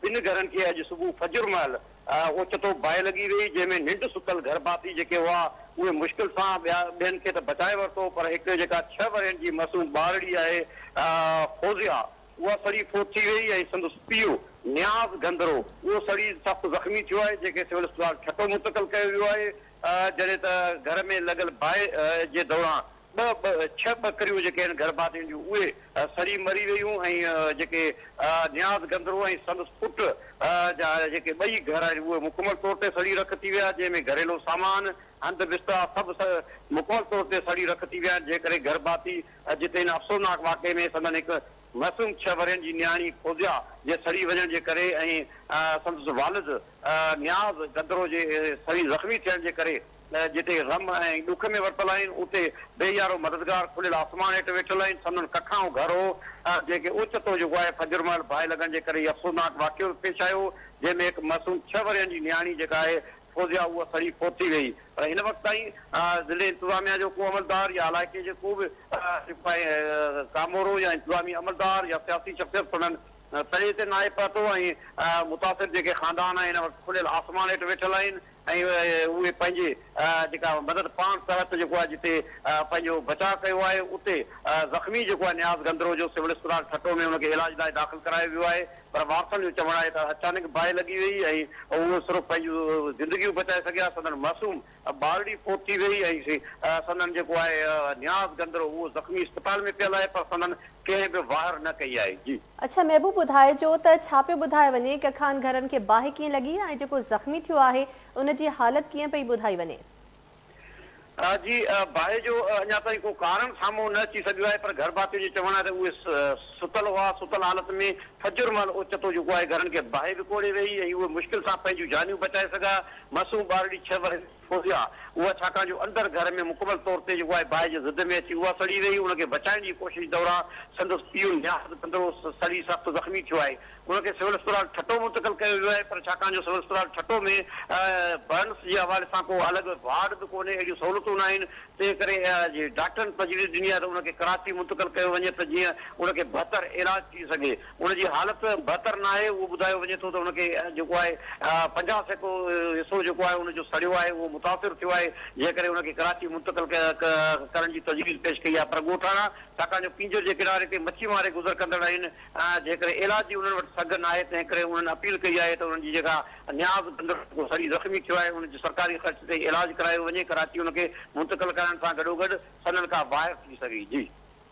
ٻن گهرن کي اڄ صبح فجر مهل اوچتو باهه لڳي ويئي، جنهن ۾ ننڊ ستل گهر ڀاتي جيڪي هئا، اهي مشڪل سان ٻيا ٻين کي ته بچائي ورتو، پر هڪ جيڪا ڇهه ورهين جي معصوم ٻارڙي آهي فوزيا، اها سڙي فوت ٿي ويئي ۽ سندس پيء نياز گندرو، اهو سڙي سخت زخمي ٿيو آهي، جنهن کي سول اسپتال ٺٽو منتقل ڪيو ويو آهي، جڏهن ته گهر ۾ لڳل باهه جي دوران ٻه ٻه ڇهه ٻڪريون جيڪي آهن گرڀاتين جون اهي سڙي مري ويون ۽ جيڪي نياز گندرو ۽ سندس پٽ جا جيڪي ٻئي گهر آهن اهي مڪمل طور تي سڙي رک ٿي ويا جنهن ۾ گهريلو سامان هنڌ بسترا سڀ مڪمل طور تي سڙي رک ٿي ويا آهن جنهن ڪري گرڀاتي جتي هن افسوسناڪ واقعي ۾ سندن هڪ معصوم ڇهه ورهين جي نياڻي فوزيا جي سڙي وڃڻ جي ڪري ۽ سندس والد نياز گندرو جي سڙي زخمي ٿيڻ جي ڪري ته جتي غم ۽ ڏک ۾ ورتل آهن، اتي بي يارو مددگار کليل آسمان هيٺ ويٺل آهن. سندن ڪکائون گهر هو، جنهن کي اوچتو جيڪو آهي فجر مهل باهه لڳڻ جي ڪري هي افسوسناڪ واقعو پيش آيو، جنهن ۾ هڪ معصوم ڇهه ورهين جي نياڻي جيڪا آهي فوزيا اها سڙي فوت ٿي ويئي پر هن وقت تائين ضلعي انتظاميا جو ڪو عملدار يا علائقي جي ڪو به جيڪو آهي ڪامورو يا انتظامي عملدار يا سياسي شخصيت سندن تڙي تي ناهي پهتو ۽ متاثر جيڪي خاندان آهن هن وقت کليل آسمان هيٺ ويٺل آهن. ۽ اهي پنهنجي جيڪا مدد پاڻ تحت جيڪو آهي جتي پنهنجو بچاء ڪيو آهي اتي زخمي جيڪو آهي نياز گندرو جو سول اسپتال ٺٽو ۾ ان کي علاج لاء داخل ڪرايو ويو آهي پر وارثن جو چوڻ آهي ته اچانڪ باهه لڳي وئي ۽ اهو صرف پنهنجون زندگيون بچائي سگهيا سندن معصوم ٻارڙي فوت ٿي وئي ۽ سندن جيڪو آهي نياز گندرو اهو زخمي اسپتال ۾ پيل آهي پر سندن ڪنهن به واهر نه ڪئي آهي جي. اڇا محبوب ٻڌائجو ته ڇا پيو ٻڌايو وڃي ڪه خان گهرن کي باهه ڪيئن لڳي ۽ جيڪو زخمي ٿيو آهي ان جي حالت ڪيئن پئي ٻڌائي وڃي. ها جي باهه جو اڃا تائين ڪو ڪارڻ سامهون نه اچي سگهيو آهي پر گهرڀاتين جو چوڻ آهي ته اهي ستل هئا ستل حالت ۾ فجر مهل اوچتو جيڪو آهي گهرن کي باهه وڪوڙي ويئي ۽ اهي مشڪل سان پنهنجون جانيون بچائي سگهيا معصوم ٻارڙي ڇهه ورهين فوزيا، اها ڇاڪاڻ جو اندر گهر ۾ مڪمل طور تي جيڪو آهي باهه جي زد ۾ اچي اها سڙي رهي ان کي بچائڻ جي ڪوشش دوران سندس پيء نياز بندڙو سڙي سخت زخمي ٿيو آهي ان کي سول اسپتال ٺٽو منتقل ڪيو ويو آهي پر ڇاڪاڻ جو سول اسپتال ٺٽو ۾ برنس جي حوالي سان ڪو الڳ وارڊ به ڪونهي اهڙيون سهولتون ناهن تنهن ڪري ڊاڪٽرن تجويز ڏني آهي ته ان کي ڪراچي منتقل ڪيو وڃي ته جيئن ان کي بھتر علاج ٿي سگهي. ان جي حالت بهتر ناهي، اهو ٻڌايو وڃي ٿو ته ان کي جيڪو آهي پنجاهه سيڪڙو حصو جيڪو آهي ان جو سڙيو آهي اهو متاثر ٿيو آهي جنهن ڪري ان کي ڪراچي منتقل ڪرڻ جي تجويز پيش ڪئي آهي پر ڳوٺاڻا ڇاڪاڻ جو پينجر جي ڪناري تي مڇي ماري گذر ڪندڙ آهن جنهن ڪري علاج جي انهن وٽ سگهه ناهي تنهن ڪري انهن اپيل ڪئي آهي ته انهن جي جيڪا نياز بندڙ جيڪو سڙي زخمي ٿيو آهي ان جو سرڪاري خرچ تي علاج ڪرايو وڃي ڪراچي ان کي منتقل ڪرائڻ سان گڏوگڏ سندن ڪا باهر ٿي سگهي. جي.